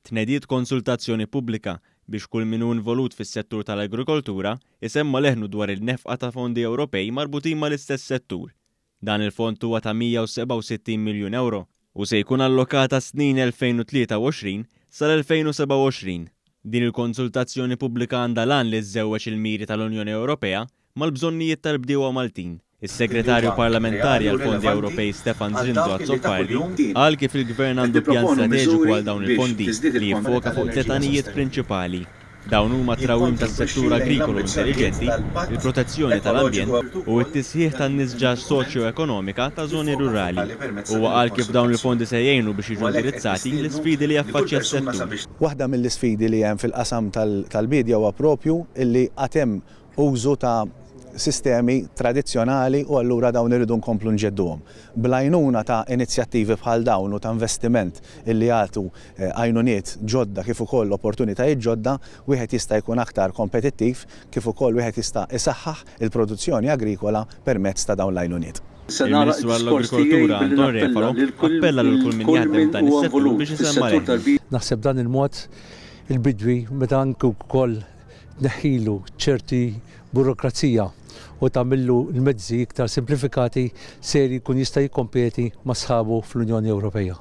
Tnediet konsultazzjoni pubblika biex kull min hu involut fis-settur tal-agrikoltura jsemma' leħnu dwar il-nefqa ta' fondi Ewropej marbutin mal-istess settur. Dan il-fond huwa ta' 167 miljun ewro u se jkun allokat għas-snin 2023 sal-2027. Din il-konsultazzjoni pubblika għandha l-għan li żżewweġ il-miri tal-Unjoni Ewropea mal-bżonnijiet tal-bdiewa Maltin. Is-Segretarju Parlamentari għall-Fondi Ewropej Stefan Zrinzo Azzopardi qal kif il-Gvern għandu pjan strateġiku għal dawn il-fondi li jiffoka fuq tliet għanijiet prinċipali. Dawn huma t-trawwim tas-settur agrikolu intelliġenti, il-protezzjoni tal-ambjent u t-tisħiħ tan-nisġaġ soċjoekonomika ta' żoni rurali. Huwa qal kif dawn il-fondi se jgħinu biex jiġu indirizzati l-isfidi li jaffaċċja s-settur. Waħda mill-isfidi li hemm fil-qasam tal-biedja huwa proprju li għad hemm użu ta' sistemi tradizzjonali u allura dawn irridu nkomplu nġedduhom. Bl-għajnuna ta' inizjattivi bħal dawn u ta' investiment illi jagħtu għajnuniet ġodda kif ukoll opportunitajiet ġodda, wieħed jista' jkun aktar kompetittiv kif ukoll wieħed jista' isaħħaħ il-produzzjoni agrikola permezz ta' dawn l-għajnuniet. Il-Ministru għall-Agrikoltura Anton Refalo appella lil kull min jaħdem f'dan is-settur biex isemma' leħnu. Naħseb b'dan il-mod il-bidwi meta anki wkoll tneħħilu ċerti burokrazija u tagħmillu l-mezzi iktar simplifikati, ser jkun jista' jikkompeti ma' sħabu fl-Unjoni Ewropea.